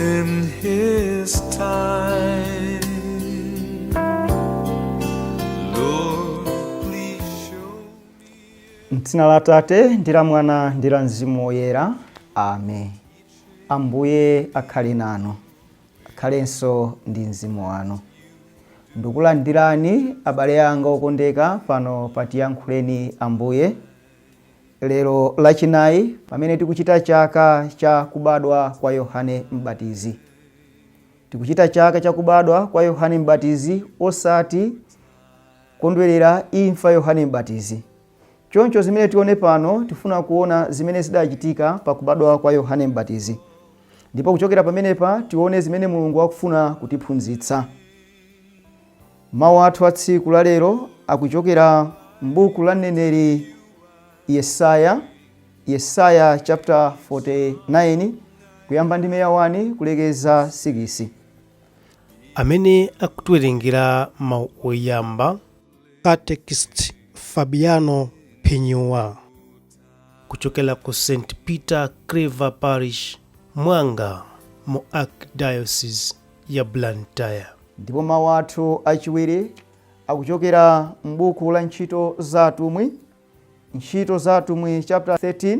in his time. Lord, please show me. mdzina la tate ndi la mwana ndi la mzimu woyera amen ambuye akhale nanu akhalenso ndi mzimu wanu ndikulandirani abale anga okondeka pano patiyankhuleni ambuye Lero Lachinayi, pamene tikuchita chaka cha kubadwa kwa Yohane M'batizi. Tikuchita chaka cha kubadwa kwa Yohane M'batizi osati kukondwerera imfa Yohane M'batizi. Choncho zimene tione pano tifuna kuona zimene zidachitika pa kubadwa kwa Yohane M'batizi. Ndipo kuchokera pamenepa tione zimene Mulungu akufuna kutiphunzitsa. Mawu athu a tsiku la lero akuchokera m'buku la mneneri Yesaya, Yesaya chapter 49, kuyamba ndime ya 1 kulekeza 6. Amene akutiwerengera mawu oyamba, Catechist Fabiano Phenyuwa. kuchokera ku st peter claver parish mwanga mu archdiocese ya blantyre ndipo mawu athu achiwiri akuchokera m'buku la ntchito za atumwi ntchito za atumwi chapter 13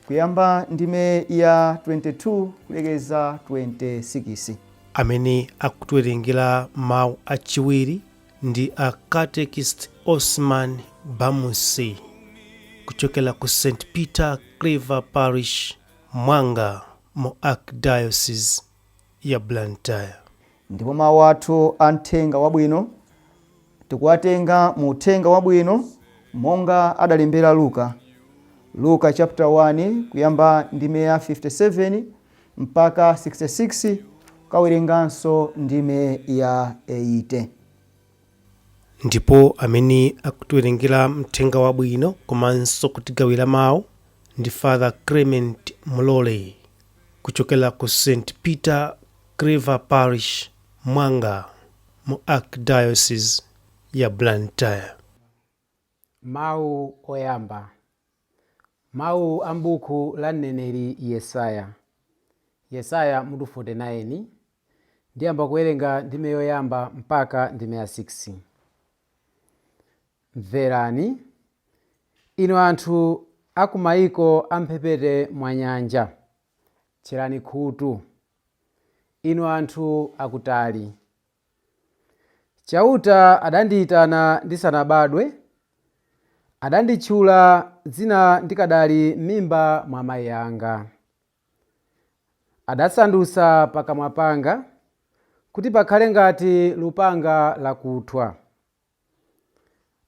kuyamba ndime ya 22 kulekeza 26 amene akutiwerengera mawu achiwiri Ndi a Catechist Osman Bamusi kuchokera ku St Peter Claver Parish, Mwanga mu Archdiocese ya Blantyre. Ndipo mau athu a Mthenga Wabwino tikuwatenga mu Uthenga Wabwino monga adalembera Luka. Luka chaputala 1 kuyamba ndime ya 57. 66 Ukawerenganso ndime ya 80. Ndipo amene akutiwerengera Mthenga Wabwino komanso kutigawira mawu ndi Father Clement Mulole kuchokera ku St. Peter Claver Parish, Mwanga, mu Archdiocese ya Blantyre. Mawu Oyamba, Mawu a m'buku la mneneri Yesaya. Yesaya, mutu 49, ndiyamba kuwerenga ndime yoyamba mpaka ndime ya 6. Mverani, inu anthu a ku mayiko a m'mphepete mwa nyanja. Tcherani khutu, inu anthu akutali. Chauta adandiitana ndisanabadwe, adanditchula dzina ndikadali m'mimba mwa mai anga. Adasandutsa pakamwa panga kuti pakhale ngati lupanga lakuthwa.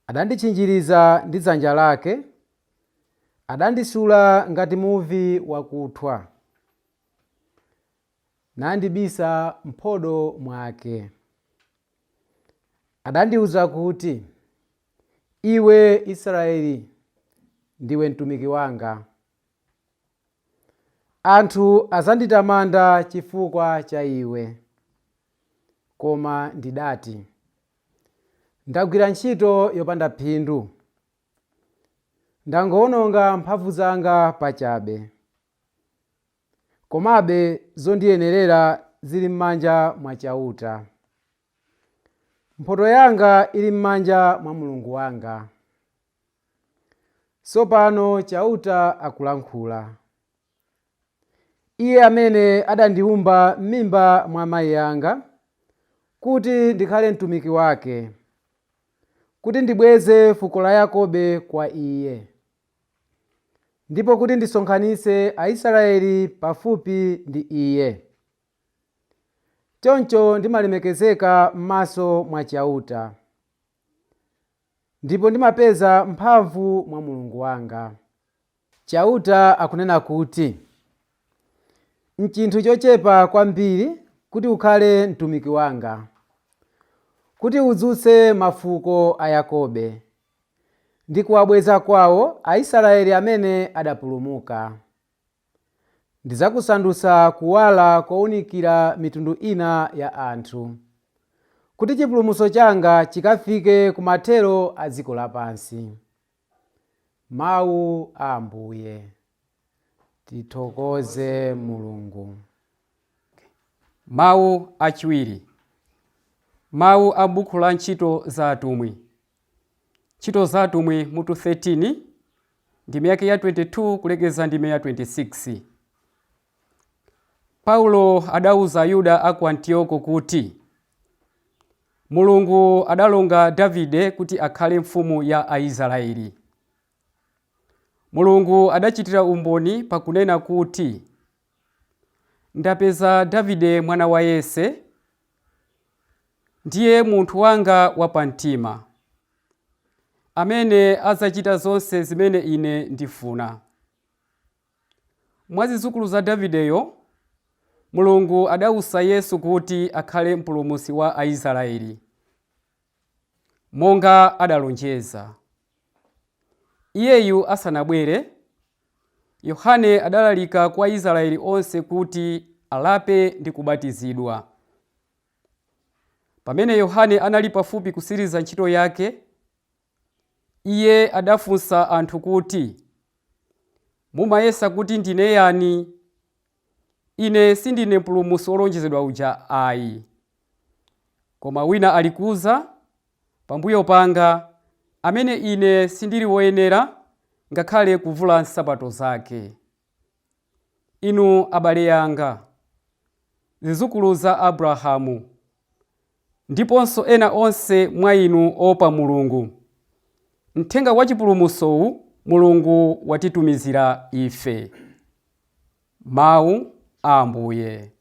Adanditchinjiriza ndi dzanja lake, adandisula ngati muvi wakuthwa. nandibisa m'phodo mwake. Adandiwuza kuti, Iwe Israeli, ndiwe mtumiki wanga. Anthu adzanditamanda chifukwa cha iwe. Koma ndidati, Ndagwira ntchito yopanda phindu. Ndangowononga mphamvu zanga pachabe. Komabe zondiyenerera zili m'manja mwa Chauta. Mphotho yanga ili m'manja mwa Mulungu wanga. Tsopano Chauta akulankhula. Iye amene adandiwumba m'mimba mwa amai anga, kuti ndikhale mtumiki wake, kuti ndibweze fuko la Yakobe kwa Iye, Ndipo kuti ndisonkhanitse Aisraeli pafupi ndi Iye. Choncho ndimalemekezeka m'maso mwa Chauta, ndipo ndimapeza mphamvu mwa Mulungu wanga. Chauta akunena kuti, Nchinthu chochepa kwambiri kuti ukhale mtumiki wanga, kuti udzutse mafuko a Yakobe ndi kuwabweza kwao Aisraeli amene adapulumuka. Ndidzakusandutsa kuwala kounikira mitundu ina ya anthu, kuti chipulumutso changa chikafike ku mathero a dziko lapansi. Mau a Ambuye. Tithokoze Mulungu. Mau achiwiri. Mau a buku la Ntchito za Atumwi. Ntchito za Atumwi mutu 13 ndime yake ya 22 kulekeza ndime ya 26. Paulo adauza Ayuda a ku Antioko kuti Mulungu adalonga Davide kuti akhale mfumu ya Aisraeli. Mulungu adachitira umboni pakunena kuti ndapeza Davide mwana wa Yese Ndiye munthu wanga wapamtima, amene adzachita zonse zimene ine ndifuna. Mwa zidzukulu za Davideyo, Mulungu adausa Yesu kuti akhale Mpulumutsi wa Aisraeli, monga adalonjeza. Iyeyu asanabwere, Yohane adalalika kwa Aisraeli onse kuti alape ndi kubatizidwa. Pamene Yohane anali pafupi kutsiriza ntchito yake, iye adafunsa anthu kuti, Mumayesa kuti ndine yani? Ine sindine Mpulumutsi wolonjezedwa uja ai. Koma wina alikudza pambuyo panga, amene ine sindiri woyenera ngakhale kuvula nsapato zake. Inu abale anga, zidzukulu za Abrahamu, ndiponso ena onse mwa inu oopa Mulungu, mthenga wa chipulumutsowu Mulungu watitumizira ife. Mawu a Ambuye.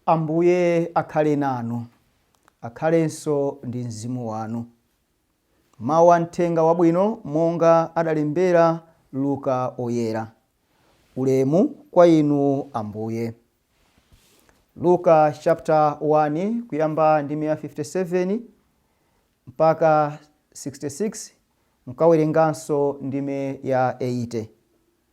Ambuye akhale nanu. Akhalenso ndi mzimu wanu. Mau a Mthenga Wabwino monga adalembera Luka Oyera. Ulemu kwa Inu Ambuye. Luka chapter 1 kuyambira ndime ya 57 mpaka 66 mkawerenganso ndime ya 80.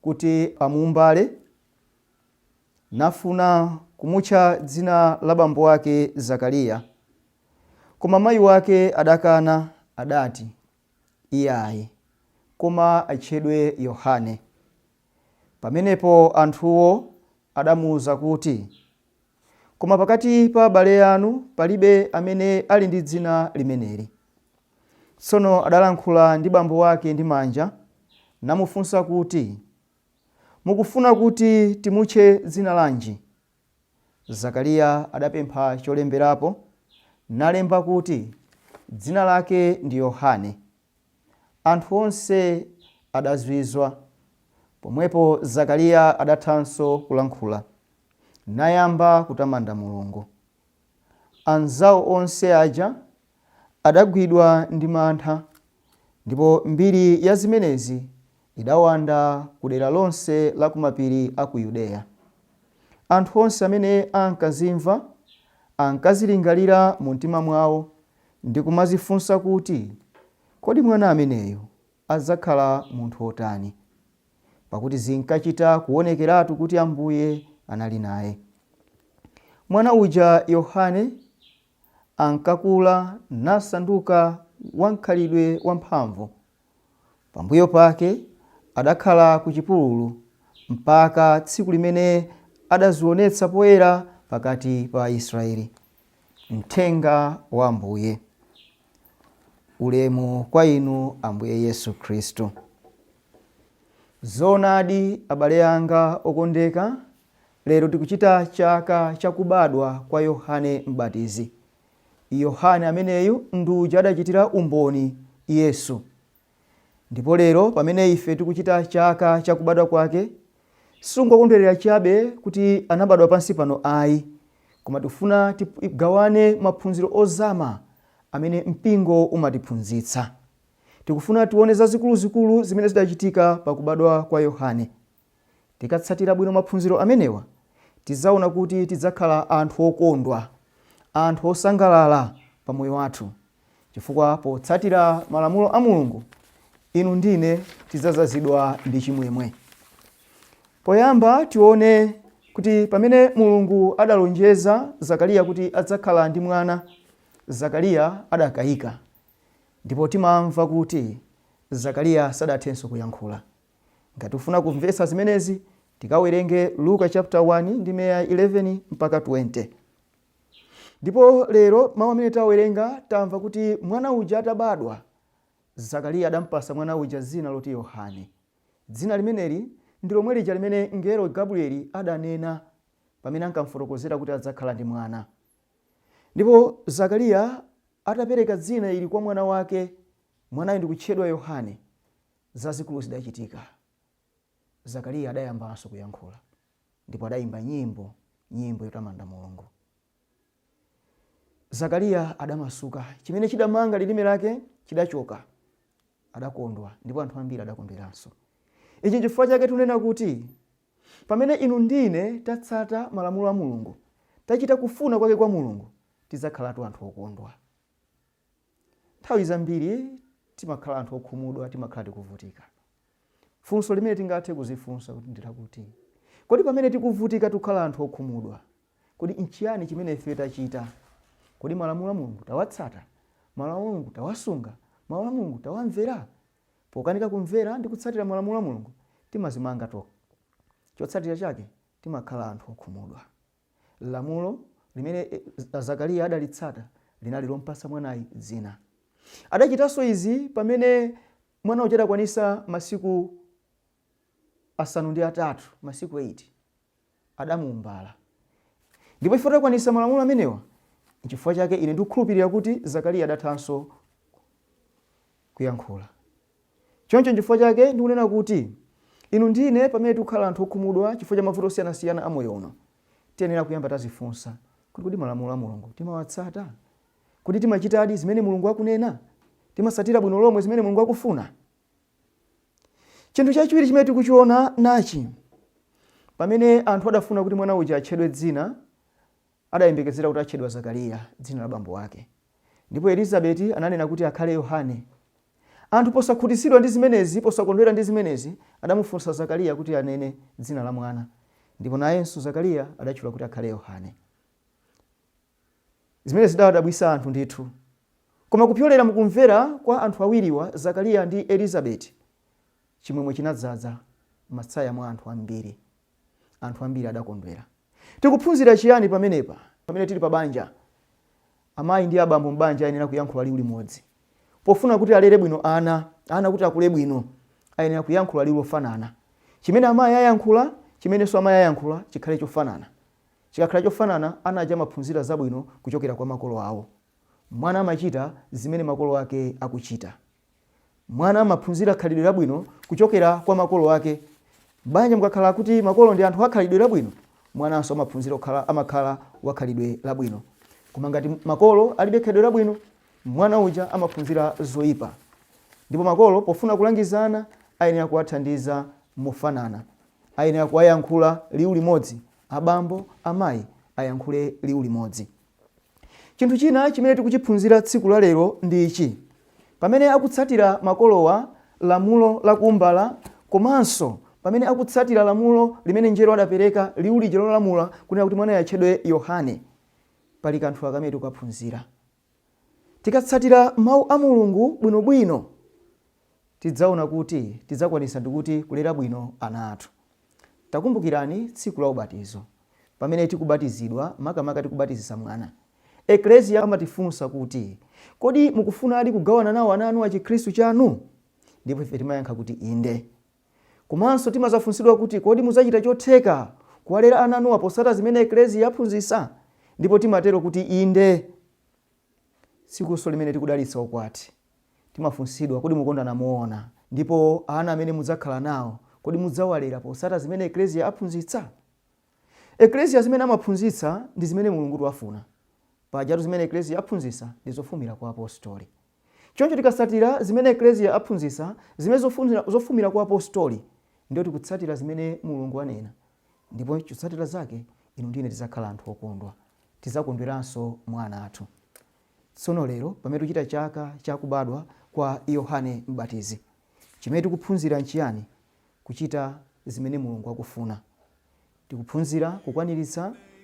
kuti amuumbale, nafuna kumutcha dzina la bambo wake Zakariya. Koma mayi wake adakana, adati, Iyayi, koma atchedwe Yohane. Pamenepo anthuwo adamuuza kuti, Koma pakati pa abale anu palibe amene ali ndi dzina limeneli. Tsono adalankhula ndi bambo wake ndi manja, namufunsa kuti, Mukufuna kuti timutche dzina lanji? Zakariya adapempha cholemberapo, nalemba kuti, Dzina lake ndi Yohane. Anthu onse adazizwa. Pomwepo Zakariya adathanso kulankhula, nayamba kutamanda Mulungu. Anzao onse aja adagwidwa ndi mantha, ndipo mbiri ya zimenezi idawanda ku dera lonse la ku mapiri a ku Yudeya. Anthu onse amene ankazimva, ankazilingalira mumtima mwao ndi kumadzifunsa kuti, Kodi mwana ameneyu adzakhala munthu wotani? Pakuti zinkachita kuonekeratu kuti Ambuye anali naye. Mwana uja Yohane ankakula nasanduka wamkhalidwe wamphamvu. Pambuyo pake adakhala ku chipululu mpaka tsiku limene adazionetsa poyera pakati pa Aisraele. Mthenga wa Ambuye. Ulemu kwa Inu Ambuye Yesu Khristu. Zoonadi, abale anga okondeka, lero tikuchita chaka cha kubadwa kwa Yohane Mbatizi. Yohane ameneyu ndi uja adachitira umboni Yesu. Ndipo lero pamene ife tikuchita chaka cha kubadwa kwake, sikungokondwerera chabe kuti anabadwa pansi pano ayi, koma tikufuna tigawane maphunziro ozama amene mpingo umatiphunzitsa. Tikufuna tione zazikuluzikulu zimene zidachitika pa kubadwa kwa Yohane. Tikatsatira bwino maphunziro amenewa, tidzaona kuti tidzakhala anthu okondwa, anthu osangalala pa moyo wathu, chifukwa potsatira malamulo a Mulungu, inu ndi ine tidzadzazidwa ndi chimwemwe. Poyamba tione kuti pamene Mulungu adalonjeza Zakariya kuti adzakhala ndi mwana, Zakariya adakayika. Ndipo timamva kuti Zakariya sadathenso kuyankhula. Ngati tikufuna kumvetsa zimenezi, tikawerenge Luka chapter 1 ndime ya 11 mpaka 20. Ndipo lero mawu amene tawerenga tamva kuti mwana uja atabadwa, Zakariya adampasa mwana uja dzina loti Yohane. Dzina limeneli ndi lomwe lija limene mngelo Gabrieli adanena pamene ankamfotokozera kuti adzakhala ndi mwana. Ndipo Zakariya atapereka dzina ili kwa mwana wake, mwanayo ndikutchedwa Yohane. Zazikulu zidachitika. Zakariya adayambanso kuyankhula, ndipo adayimba nyimbo, nyimbo yotamanda Mulungu. Zakariya adamasuka, chimene chidamanga lilime lake chidachoka. Adakondwa, ndipo anthu ambiri adakondweranso. Ichi nchifukwa chake tunena kuti, pamene inu ndine tatsata malamulo a Mulungu, tachita kufuna kwake kwa Mulungu, tidzakhalatu anthu okondwa. Nthawi zambiri timakhala anthu okhumudwa, timakhala tikuvutika. Funso limene tingathe kudzifunsa kuti ndi lakuti, kodi pamene tikuvutika tikukhala anthu okhumudwa, kodi nchiyani chimene ifeyo tachita? Kodi malamulo a Mulungu tawatsata? Malamulo a Mulungu tawasunga? Mawu a Mulungu tawamvera? Pokanika kumvera ndi kutsatira malamulo a Mulungu, timadzimanga tokha. Chotsatira chake, timakhala anthu okhumudwa. Lamulo limene Zakariya adalitsata linali lompatsa mwanayi dzina. Adachitanso izi pamene mwana uja adakwanitsa masiku asanu ndi atatu, masiku 8. Adamuumbala. Ndipo chifukwa adakwanitsa malamulo amenewa, nchifukwa chake ine ndikukhulupirira kuti Zakariya adathanso kuyankhula. Choncho n'chifukwa chake ndikunena kuti inu ndi ine pamene tikukhala anthu okhumudwa chifukwa cha mavuto osiyanasiyana a moyo uno, tiyenera kuyamba tadzifunsa kuti, Kodi malamulo a Mulungu timawatsata? Kodi timachitadi zimene Mulungu akunena? Timatsatira bwino lomwe zimene Mulungu akufuna? Chinthu chachiwiri chimene tikuchiona nachi, Pamene anthu adafuna kuti mwana uja atchedwe dzina, Adayembekezera kuti atchedwa Zakariya, dzina la bambo wake. Ndipo Elizabeti ananena kuti akhale Yohane. Anthu posakhutitsidwa ndi zimenezi, posakondwera ndi zimenezi, adamufunsa Zakariya kuti anene dzina la mwana. Ndipo nayenso Zakariya adatchula kuti akhale Yohane. Zimenezi zidawadabwitsa anthu ndithu. Koma kupyolera mu kumvera kwa anthu awiriwa, Zakariya ndi Elizabeti, chimwemwe chinadzadza m'masaya mwa anthu ambiri. Anthu ambiri adakondwera. Tikuphunzira chiyani pamenepa? Pamene tili pabanja, amayi ndi abambo m'banja ayenera kuyankhula liwu limodzi. Pofuna kuti alere bwino ana, ana kuti akule bwino, ayenera kuyankhula liwu lofanana. Chimene amayi ayankhula, chimenenso amayi ayankhula chikhale chofanana. Chikakhala chofanana, ana aja amaphunzira zabwino kuchokera kwa makolo awo. Mwana amachita zimene makolo ake akuchita. Mwana amaphunzira khalidwe labwino kuchokera kwa makolo ake. M'banja mukakhala kuti makolo ndi anthu akhalidwe labwino, mwananso amaphunzira amakhala wakhalidwe labwino. Koma ngati makolo alibe khalidwe labwino, mwana uja amaphunzira zoipa. Ndipo makolo pofuna kulangiza ana, ayenera kuwathandiza mofanana. Ayenera kuwayankhula liwu limodzi. Abambo, amayi ayankhule liwu limodzi. Chinthu china chimene tikuchiphunzira tsiku la lero ndi ichi, Pamene akutsatira makolowa lamulo la kuumbala komanso pamene akutsatira lamulo limene mngelo adapereka liwu lija lolamula kunena kuti mwanayi atchedwe Yohane, pali kanthu kamene tikukaphunzira. Tikatsatira mau a Mulungu bwinobwino, tidzaona kuti tidzakwanitsa ndikuti kulera bwino ana athu. Takumbukirani tsiku la ubatizo. Pamene tikubatizidwa, makamaka tikubatizitsa mwana, Eklesia amatifunsa kuti, Kodi mukufunadi kugawana nawo ana anuwa Chikristu chanu? Ndipo ife timayankha kuti inde. Komanso timazafunsidwa kuti, Kodi mudzachita chotheka kuwalera ana anuwa potsata zimene Eklesia yaphunzitsa? Ndipo timatero kuti inde. Tsikutu limene tikudalitsa ukwati, timafunsidwa, Kodi mukondana moona? Ndipo ana amene mudzakhala nawo, kodi mudzawalera potsata zimene Eklesia aphunzitsa? Eklesia zimene amaphunzitsa ndi zimene Mulungutu afuna. Pajatu zimene Eklesia aphunzitsa ndi zofumira kwa Apostoli. Choncho tikatsatira zimene Eklesia aphunzitsa, zimene zofumira kwa Apostoli, ndiyo tikutsatira zimene Mulungu anena. Ndipo chotsatira zake, inu ndi ine tidzakhala anthu okondwa. Tidzakondweranso mwa ana athu. Tsono, lero, pamene tikuchita chaka cha kubadwa kwa Yohane M'batizi, chimene tikuphunzira nchiyani? Kuchita zimene Mulungu akufuna. Tikuphunzira kukwaniritsa.